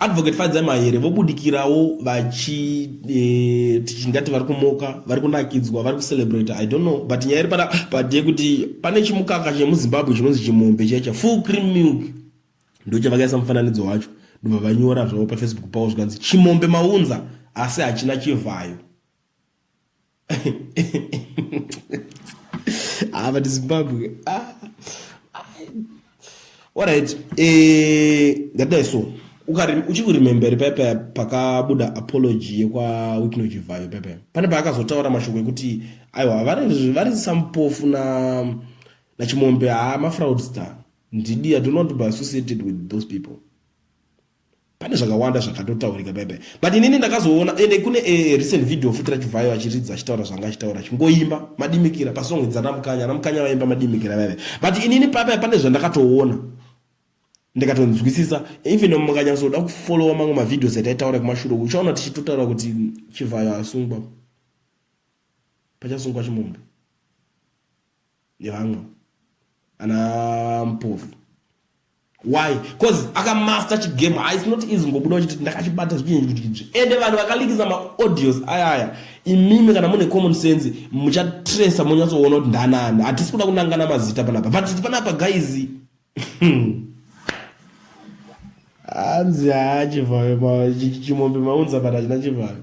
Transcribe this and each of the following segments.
Advocate Fadza Mahere vobudikirawo vachi eh, tingati vari kumoka vari kunakidzwa vari kucelebrate i don't know but nyaya iri pana but yekuti pane chimukaka chemuzimbabwe chinonzi chimombe checha full cream milk ndochavakaisa mufananidzo wacho ndobva vanyora zvavo pafacebook pavo zvikanzi chimombe maunza asi hachina chivhayo ah, but Zimbabwe. Ah, ah. All right. Eh, that day so. uchikurememberi pepe pakabuda apology yekwa wikno chivhayo pepe pane paakazotaura mashoko ekuti aiwa vari sampofu na nachimombe haa mafraudster ndidi i do not be associated with those people pane zvakawanda zvakatotaurika bebe but inini ndakazoona ende kune a eh, recent video futi rachivhayo achiridza achitaura zvanga achitaura chingoimba madimikira pasong dzana mukanya ana mukanya vaimba madimikira bebe but inini pape pane zvandakatoona ndikatonzwisisa even mukanyatsoda kufollowa mamwe mavideos ataitaura kumashure uchaona tichitotaura kuti chivhayo asungwa pachasungwa chimombe nevamwe ana mpofu why bcause akamaster chigame ha its not easy ngobuda uchiti ndakachibata zvichiinzvikidzvi ende vanhu vakalikisa maaudios aya aya imimi kana mune common sense muchatresa monyatsoona kuti ndanani hatisi kuda kunangana mazita panapa but panapa guys hanzi haa chivhayo chimombe maunza pana china chivhayo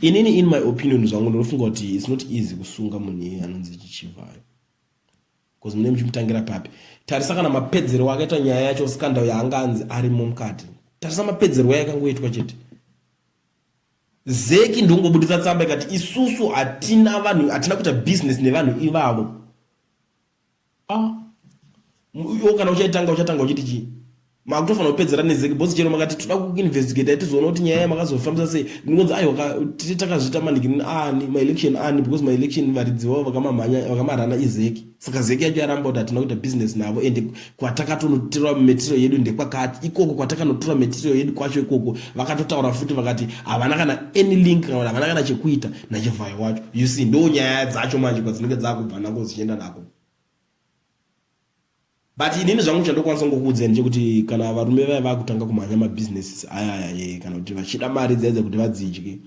inini in my opinion zvangu ndinofunga kuti its not easy kusunga munhu iye anonzi chichivhayo bcause mune muchimutangira papi tarisa kana mapedzero akaita nyaya yacho skandal yaanga anzi arimo mukati tarisa mapedzerwo yakangoitwa chete zeki ndongobudisa tsamba ikati isusu hatina vanhu hatina kuita business nevanhu ivavo Ah, iwo kana uchaitanga uchatanga uchiti chii makutofanira kupedzera nezeki bhosi chero makati toda kuinvestigate atizoona kuti nyaya yamakazofambisa sei ndingonzi aiwa titi takazviita maniki ani maelection ani because maelection varidzi vavo vakamamhanya vakamarana izeki saka zeki yacho yaramba kuti hatina kuita business navo ende kwatakatonotora material yedu ndekwakati ikoko kwatakanotora material yedu kwacho ikoko vakatotaura futi vakati havana kana any link kana kuti havana kana chekuita nachivhayo wacho you see ndo nyaya dzacho manje kwadzinenge dzakubva nako dzichienda nako but inini zvangu chandokwanisa ngokuudzeni chekuti kana varume vaya vakutanga kumhanya mabusinesses ayaya kana kuti vachida mari dzaidza kuti vadzidye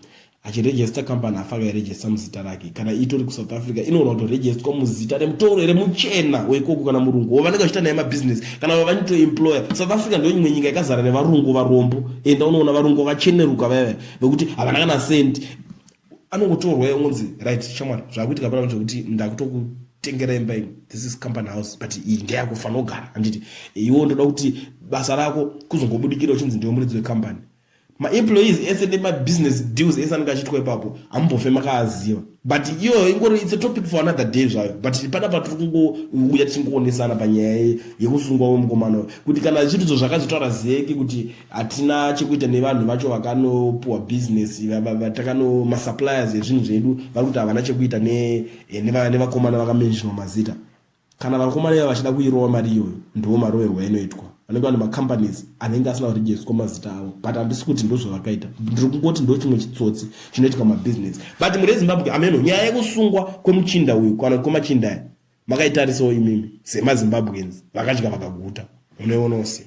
achiregister company afa akairegister muzita rake kana itori kusouth africa inoona kuti registwa muzita remutoro here muchena weikoko kana murungu wovanenge vachiita naye mabusiness kana vavanito employer south africa ndo imwe nyika ikazara nevarungu varombo enda unoona varungu vakacheneruka vaiva vekuti havana kana cent anongotorwa yongonzi right chamwari zvakuitika pana zvekuti ndakutoku tengera imba iyi this is company house but iyi ndeyakufanira kugara handiti iwo ndoda kuti basa rako kuzongobudikira uchinzi ndiwe muridzi wecompany maemployees ese nemabusiness deals ese anenge achiitwa ipapo hamumbofe makaaziva but iyoyo ingori its a topic for another day zvayo but pana patiri kungouya tichingoonesana panyaya yekusungwa wemukomana uyo kuti kana zvirizvo zvakazotaura zeki kuti hatina chekuita nevanhu vacho vakanopuwa business vatakano masuppliers ezvinhu zvedu vari kuti havana chekuita eh, nevakomana vakamenjinwa mazita Kana vakomana iva vachida kuirova mari iyoyo ndiwo maroverwo ainoitwa. Vanenge vane macompanies anenge asina kurejeswa mazita avo but handisi kuti ndozvavakaita. Ndiri kungoti ndo chimwe chitsotsi chinoitika mabusiness. But muri eZimbabwe ameno nyaya yekusungwa kwemuchinda uyu kana kwemachinda aya makaitarisawo imimi semaZimbabweans vakadya vakaguta. Munoionawo sei?